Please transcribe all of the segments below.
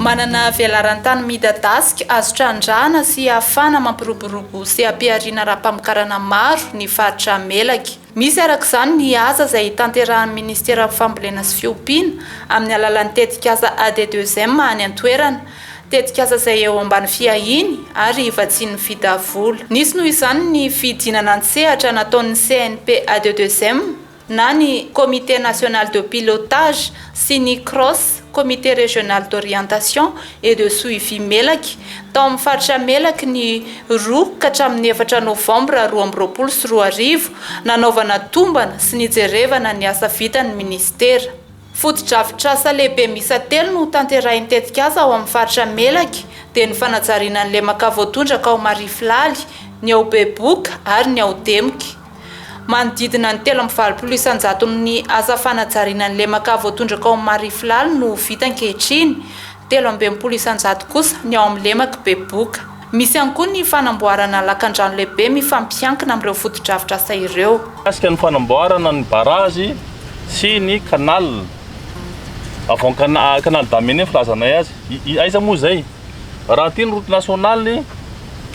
Manana velaran-tany midadasika, azo trandrahana sy ahafahana mampiroborobo seha-pihariana ara-pamokarana maro ny faritra Melaky. Misy araka izany ny asa izay hitanterahan'ny minisiteran'ny Fambolena sy Fiompiana amin'ny alalan'ny tetikasa AD2M any an-toerana. tetikasa izay eo ambany fiahiany ary hivatsian'ny fita vola. Nisy noho izany ny fidinana an-tsehatra nataon'ny CNPADEUXM na ny Comité National de Pilotage sy ny Cros, Comité Régional d'Orientation et de Suivi Melaky, tao amin'ny faritra Melaky ny roa ka hatramin'ny efatra novambra roa amby roapolo sy roa arivo, nanaovana tombana sy nijerevana ny asa vitan'ny minisitera. Fotodrafitrasa lehibe miisa telo no hotanterahin'ny tetikasa ao amin'ny faritra Melaky dia ny fanajariana ny lemaka voatondraka ao Marifilhaly, ny ao Beboka ary ny ao Demika. Manodidina ny telo amby valopolo isan-jaton'ny asa fanajariana ny lemaka voatondraka ao Marifilhaly no ho vita ankehitriny, telo amby enimpolo isan-jato kosa ny ao amin'ny lemak'i Beboka. Misy ihany koa ny fanamboarana lakandrano lehibe mifampiankina amin'ireo fotodrafitrasa ireo. Mikasika ny fanamboarana ny barazy sy ny canal avant canal Damene filazanay azy, aiza moa izay? Raha aty ny route nationale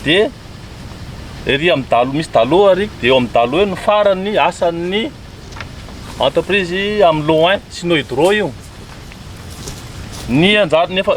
dia ery amin'ny dalo misy dalo ary dia eo amin'ny dalo eo no faran'ny asan'ny entreprise Amloin Sino Hydro io, ny anjarany efa.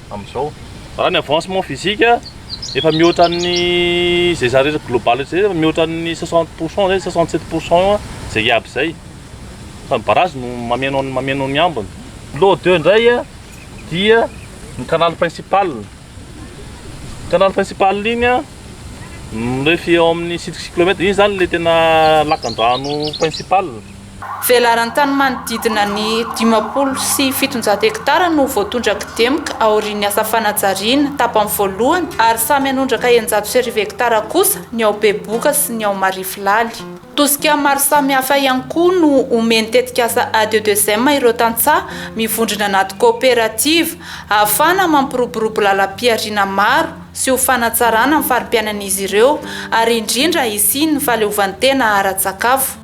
amin'izao. Raha ny avancement physique efa mihoatra ny izay zary eto global eto izay efa mihoatra ny 60 pour cent izay 67 pour cent eo izay hiaby izay fa ny barrage no mameno ny mameno ny ambiny. Lot deux indray dia ny canal principal, canal principal iny mirefy eo amin'ny sitry kilomètre, iny izany ilay tena lakandrano principal. Velaran-tany manodidina ny dimampolo sy fitonjato hektara no voatondrak'Demka aorian'ny asa fanajariana tapany voalohany ary samy hanondraka eninjato sy arivo hektara kosa ny ao Behoboka sy ny ao Marifilhaly. Tosika maro samihafa ihany koa no omen'ny tetikasa ADEDESEM ireo tantsaha mivondrona anaty kaoperativa ahafahana mampiroborobo lalam-pihariana maro sy ho fanatsarana ny fari-piainan'izy ireo ary indrindra hisian'ny fahaleovantena ara-tsakafo.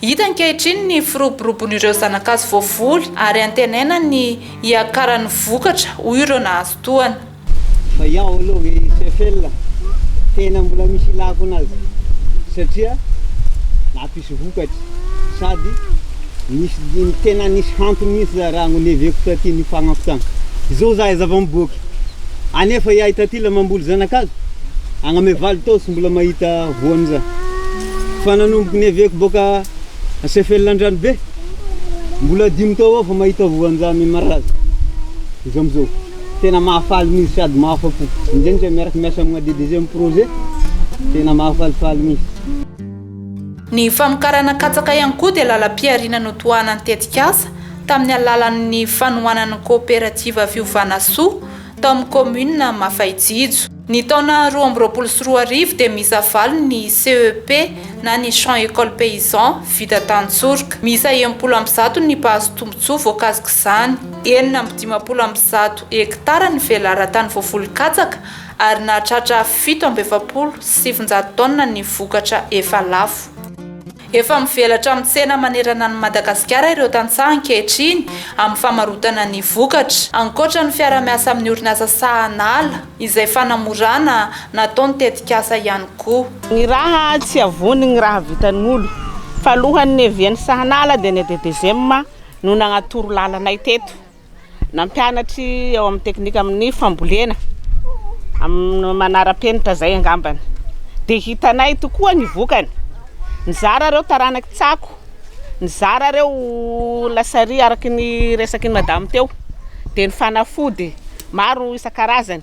Hita ankehitriny ny firoborobon'ireo zanakazo voavoly ary antenaina ny hiakaran'ny vokatra, hoy ireo nahazo tohana. Fa iao aloha ve i Seyfel tena mbola misy ilako anazy satria nampisy vokatra sady nisy tena nisy hantony mihitsy za raha no neveko taty nifagnako tany izao za aiza vao miboaka anefa iahy taty la mamboly zanakazo agname valo tao tsy mbola mahita voany za Fa nanomboky ny eveko boka Sefela Andranobe, mbola dimy tao eo vao mahita voanjamy i Maraza. Izy amizao, tena mahafaly mihintsy sady mahafa-po. Indrindra miaraka miasa amina DDG am projet, tena mahafalifaly mihintsy. Ny famokarana katsaka ihany koa dia lalam-pihariana notohanan'ny tetikasa tamin'ny alalan'ny fanohanan'ny Kaoperativa Fiovana Soa tao amin'ny Kaominina Mafaitsijo. Ny taona roa amby roapolo sy roa arivo dia miisa valo ny CEP na ny Champs Écoles Paysans vita tantsoroka. Miisa enimpolo amby zato ny mpahazo tombontsoa voakasik'izany. Enina amby dimampolo amby zato hektara ny velaran-tany voavoly katsaka ary nahatratra fito amby efapolo sy sivinjato taonina ny vokatra efa lafo. Efa mivelatra amin'ny tsena manerana an'i Madagasikara ireo tantsaha ankehitriny amin'ny famarotana ny vokatra. Ankoatra ny fiara-miasa amin'ny orinasa Sahanala izay fanamorana nataony tetikasa ihany koa. Ny raha tsy avony ny raha vitan'olo. Fa alohan'ny niavian'ny Sahanala dia ny ADDGM no nanatoro lalanay teto. Nampianatry ao amin'ny teknika amin'ny fambolena amin'ny manara-penitra izay angambany. Dia hitanay tokoa ny vokany. Nizara ireo taranaky Tsako, nizara ireo lasary araka ny resaky ny madama teo, dia ny fanafody maro isan-karazany.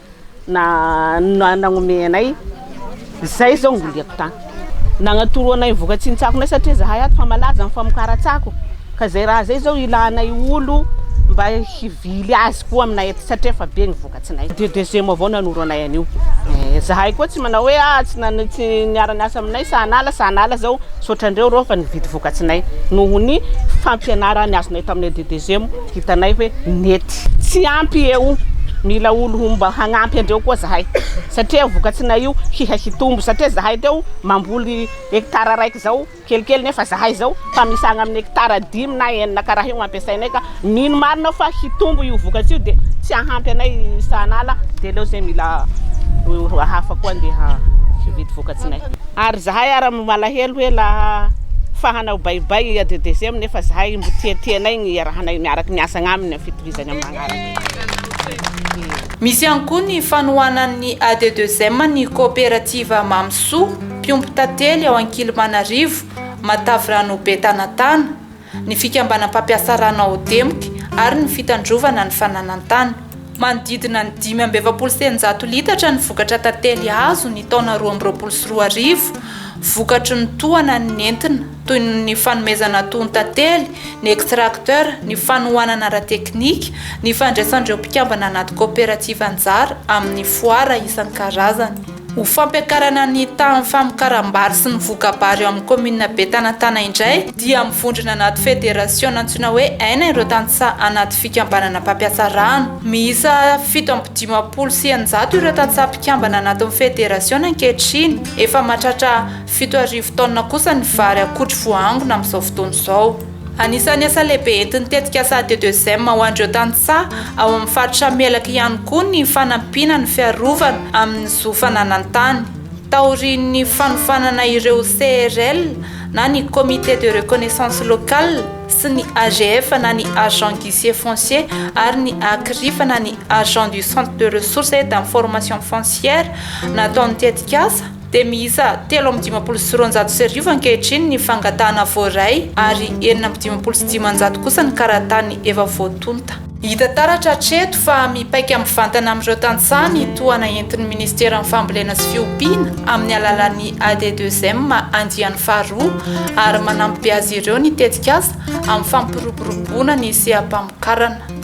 Na nanome anay izay izao no liako tany. Nanatoro anay ny voka-tsintsakonay satria izahay ato fa malaza ny famokaran-tsako ka izay raha izay izao ilanay olo mba hivily azy koa aminay aty satria efa be ny vokatsinay. Dia DGM avao nanoro anay an'io. Eh, izahay koa tsy manao hoe ah tsy nana tsy niara-niasa aminay sahanala sahanala izao misaotra andreo ireo fa nividy vokatsinay noho ny fampianarana azonay taminay DDGM. Hitanay hoe nety. Tsy ampy eo, mila olo mba hagnampy andreo koa zahay satria vokatsinay io hiha hitombo satria zahay teo mamboly hectare raiky zao kelikely nefa zahay zao fa misagna aminy hectare dimy na enina karaha io ampiasainay ka mino marina fa hitombo io vokatry io de tsy ahampy anay sahanala de leo zay mila olo hafa koa ndeha hividy vokatsinay ary zahay ara malahelo hoe laha fa hanao baybay i adds nefa zahay mbo tiatianay Iarahanay miaraky miasa agnaminy amin'ny fitohizany amin'ny magnaraka. Misy ihany koa ny fanohanan'ny AD2M ny Kaoperativa Mamy Soa, mpiompy tantely ao Ankilimanarivo, Matavirano Betanatana, ny Fikambanam mpampiasa rano ao Demky ary ny Fitandrovana ny Fananantany. Manodidina ny dimy amby efapolo sy eninjato litatra ny vokatra tantely azo ny taona roa amby roapolo sy roa arivo, vokatry ny tohana nentina. toy ny fanomezana tontan-tely, ny extracteur, ny fanohanana ara-teknika, ny fandraisan'ireo mpikambana anaty kaoperativa anjara amin'ny foara isan-karazany. Ho fampiakarana ny tahan'ny famokaram-bary sy ny voka-bary eo amin'ny kaominina Betanatana indray dia mivondrona anaty federasiona antsoina hoe Aina ireo tantsaha anaty fikambanana mpampiasa rano. Miisa fito amby dimampolo sy eninjato ireo tantsaha mpikambana anatin'ny federasiona ankehitriny. Efa mahatratra. Fito arivo taonina kosa ny vary akotry voaangona amin'izao fotoana izao. Anisan'ny asa lehibe entin'ny tetikasa ADEUXM ho an'ireo tantsaha ao amin'ny faritra Melaky ihany koa ny fanampiana ny fiarovana amin'ny zo fananan-tany, taorian'ny fanofanana ireo CRL na ny Comité de Reconnaissance Local sy ny AGF na ny Agent Guichet Foncier ary ny ACRIF na ny Agent du Centre de Ressources et d'Information Foncière nataon'ny tetikasa. dia miisa telo amby dimampolo sy roanjato sy arivo ankehitriny ny fangatahana voaray ary enina amby dimampolo sy dimanjato kosa ny karatany efa voatonta. Hita taratra hatreto fa mipaika mivantana amin'ireo tantsaha ny tohana entin'ny Ministeran'ny Fambolena sy Fiompiana amin'ny alalan'ny ADEDEUSEM andiany faharoa ary manampy azy ireo ny tetikasa amin'ny fampiroboroboana ny seha-pamokarana.